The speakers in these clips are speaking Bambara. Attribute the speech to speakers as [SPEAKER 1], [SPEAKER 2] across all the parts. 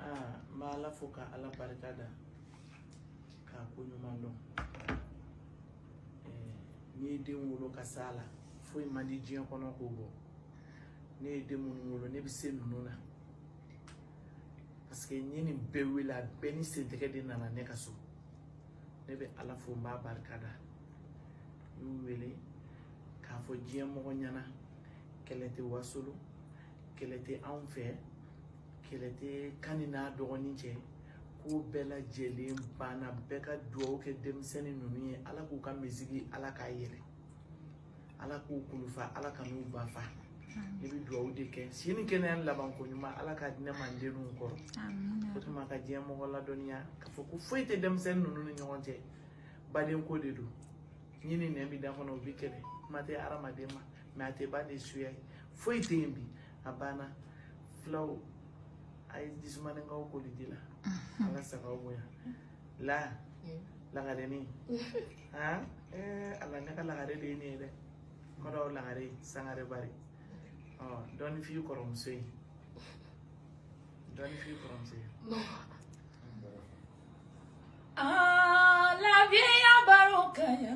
[SPEAKER 1] aa n bɛ ala fo ka ala barika da k'a ko ɲuman dɔn n'i ye den wolo ka s'a la foyi man di diɲɛ kɔnɔ k'o bɔ ne ye den minnu wolo ne bɛ se ninnu na parce que n ye nin bɛɛ wele a bɛɛ ni sentɛgɛ de nana ne ka so ne bɛ ala fo n b'a barika da n y'u wele k'a fɔ diɲɛ mɔgɔ ɲɛ na kɛlɛ tɛ wasolo kɛlɛ tɛ anw fɛ kɛlɛ tɛ kani n'a dɔgɔnin cɛ ko bɛɛ lajɛlen banna bɛɛ ka dugawu kɛ denmisɛnnin ninnu ye ala k'u ka misigi ala k'a yɛlɛ ala k'u kulufa ala ka n'u ba fa ne bɛ dugawu de kɛ si ni kɛnɛya laban ko ɲuman ala k'a di ne ma n denw kɔrɔ o tuma ka diɲɛ mɔgɔ ladɔnniya k'a fɔ ko foyi tɛ denmisɛnnin ninnu ni ɲɔgɔn cɛ badenko de don ɲin ni nɛn bɛ da kɔnɔ o bɛ kɛlɛ kuma tɛ hadamaden ma mais a tɛ baden suya ye foyi tɛ yen bi a banna fulaw a ye jisumanikaw koli di la an ka sagaw bonya la lagarenin han ala ne ka lagare de ye ne ye dɛ kɔrɔw lagare sangare bari ɔ dɔɔni f'i kɔrɔmuso ye dɔɔni f'i kɔrɔmuso
[SPEAKER 2] ye Ah, la vieille barika ya.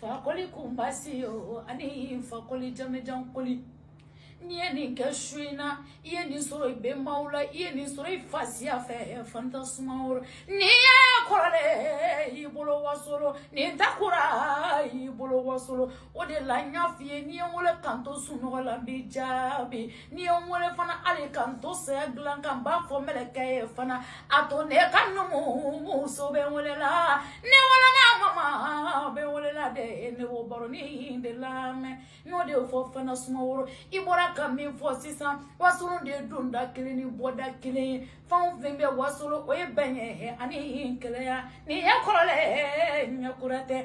[SPEAKER 2] fakoli kunba si ye o ani fakoli jamejan koli n'i ye nin kɛ su in na i ye nin sɔrɔ i bɛnbaw la i ye nin sɔrɔ i fasiya fɛ fanta sumaworo n'i ye kɔrɔlen y'i bolo wasolo nin ta kura y'i bolo wasolo o de la n y'a f'i ye n'i ye n wele ka n to sunɔgɔ la n b'i jaabi n'i ye n wele fana hali ka n to saya dilan ka n b'a fɔ mɛlɛkɛ ye fana a to ne ka numumuso bɛ n wele la ne wolola mama bɛ wele la dɛ ne b'o baronin de lamɛn n y'o de fɔ fanta sumaworo i bɔra ka min fɔ sisan wasolon de ye donda kelen ni bɔda kelen ye fɛn o fɛn bɛ wasolo o ye bɛn ye ani kelenya nin ye kɔrɔlen ye kura tɛ